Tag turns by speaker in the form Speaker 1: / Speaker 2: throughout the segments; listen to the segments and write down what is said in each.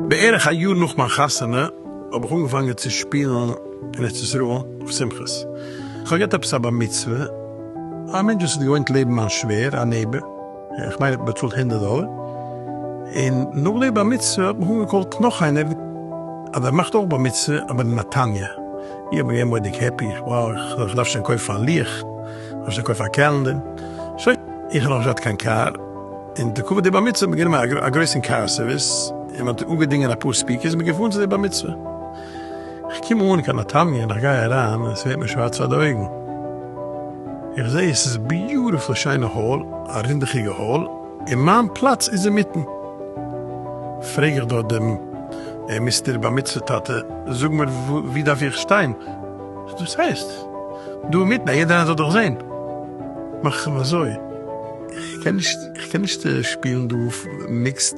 Speaker 1: בערך א יאר נאך מיין חתונה האב איך אנגעפאנגען צו שפילן אין ארץ ישראל אויף שמחות. איך האב געהאט עפעס א בר מצוה, א מענטש וואס איז געוואוינט לעבן מיין שווער, א נעבער. איך מיין איך באצאלט הונדערט דאלער, און נאך די בר מצוה האט מיך אנגעקאלט נאך איינער אז ער מאכט אויך בר מצוה אבער אין נתניה, איך בין געווען מורא'דיג העפי, וואו איך דארף שוין קויפן א לוח, איך דארף שוין קויפן א קעלענדער, שוין, איך האב נאך נישט געהאט קיין קאר, און לכבוד די בר מצוה האט מען גענומען א גרויסן קאר סערוויס, און מען האט אנגעדינגען אפאר ספיקערס, מען איז געפארן צו די בר מצוה. איך קום אן קיין נתניה און איך גיי אריין און עס ווערט מיר שווארץ פאר די אויגן, איך זע עס איז ביוטיפול שיינע האל, א רינדעכיגע האל, און מיין פלאץ איז אינמיטן, פרעג איך דארט דעם מיסטער בר מצוה טאטע, זאג מיר ווי דארף איך שטיין? וואס דאס הייסט? דא אינמיטן אז יעדער איינער זאל דיך זען, מאך איך אים אזוי, איך קען נישט שפילן דא מיקסד.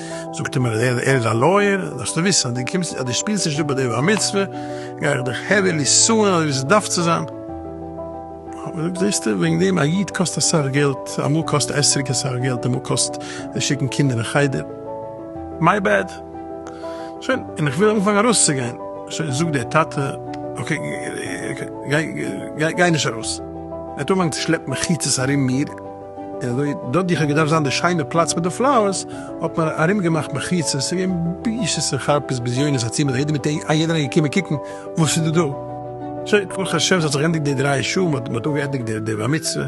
Speaker 1: זאגט ער מיר ער איז א לויער, זאלסטו וויסן אז דו קומסט אז דו שפילסט נישט אפ ביי די בר מצוה גיי איך דיך העווילי סוען אזוי ווי ס'דארף צו זיין. כ'האב געזאגט זעסטו וועגן דעם א איד קאסט אסאך געלט, אמאל קאסט עסריק אסאך געלט, אמאל קאסט זיי שיקן קינדער אין חדר. מיי בעד. שוין, און איך וויל אנפאנגען ארויסצוגיין, שוין זאגט דער טאטע אקעי גיי גיי נישט ארויס. ער האט אנגעפאנגען צו שלעפן מחיצות ארום מיר. און אזוי דארט ווי כ'האב געדארפט זיין די שיינע פלאץ מיט די פלאוערס, האט מען ארום געמאכט מחיצות, ס'איז געווען בושות און חרפות ביזיונות א צימער, יעדער מיט א יעדער איז געקומען קוקן וואס איז דא דא. סוי ברוך השם ס'האט זיך גענדיגט די דריי שעה, מ'האט מ'האט אפגעענדיגט די די בר מצוה,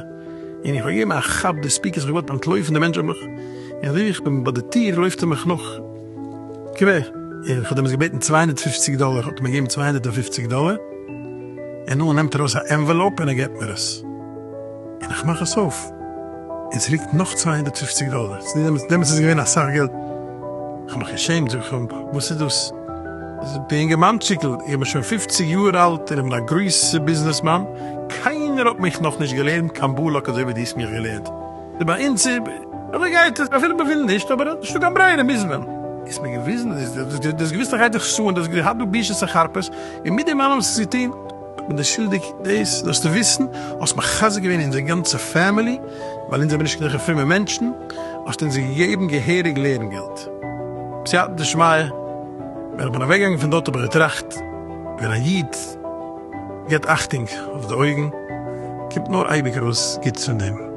Speaker 1: און איך האב געגעבן א כאפ די ספיקערס, כ'האב געוואלט אנטלויפן, די מענטש האט מיך, און אזוי ווי איך בין ביי די טיר לויפט ער מיך נאך קווער, און כ'האב דעמאלטס געבעטן צוויי הונדערט פֿופֿציק דאלער, האט ער מיר געגעבן צוויי הונדערט און פֿופֿציק דאלער, און נאך נעמט ער ארויס א ענוועלאופ און ער געבט מיר עס. און איך מאך עס אויף און ס'ליגט נאך צוויי הונדערט פֿופֿציק דאלער, דעמאלטס איז עס געווען אסאך געלט, איך האב מיך געשעמט, זאג איך אים, וואס איז דאס? זאגט דער אינגערמאנטשיקל, איך בין שוין פֿופֿציק יאר אלט און איך בין א גרויסע ביזנעסמאן, קיינער האט מיך נאך נישט געלערנט קיין בלק אזוי ווי דו האסט מיך געלערנט, דו ביי אונז איז אזוי גייט עס, אפילו מען וויל נישט, אבער האט נישטא קיין ברירה מוז מען. איז מיר געוויזן, דו האסט געוויסט אז איך גיי דיך סוען, דו האסט געהאט דא בושות און חרפות, און מיט דעם אלעם האסט עס געטון? איך בין דער שולדיג, דאס זאלסטו וויסן, האסט מחזק געווען אונזער גאנצע פעמילי, ווייל אונז זעמיר נישט גענוג א פרומע מענטשן, האסטו אונז געגעבן געהעריג לערן געלט. בסייעתא דשמיא, ווען איך בין אוועק געגאנגען פון דארט האב איך געטראכט, ווען א איד געבט אכטונג אויף די אויגן, קומט נאר אייביג ארויס גוטס פון דעם.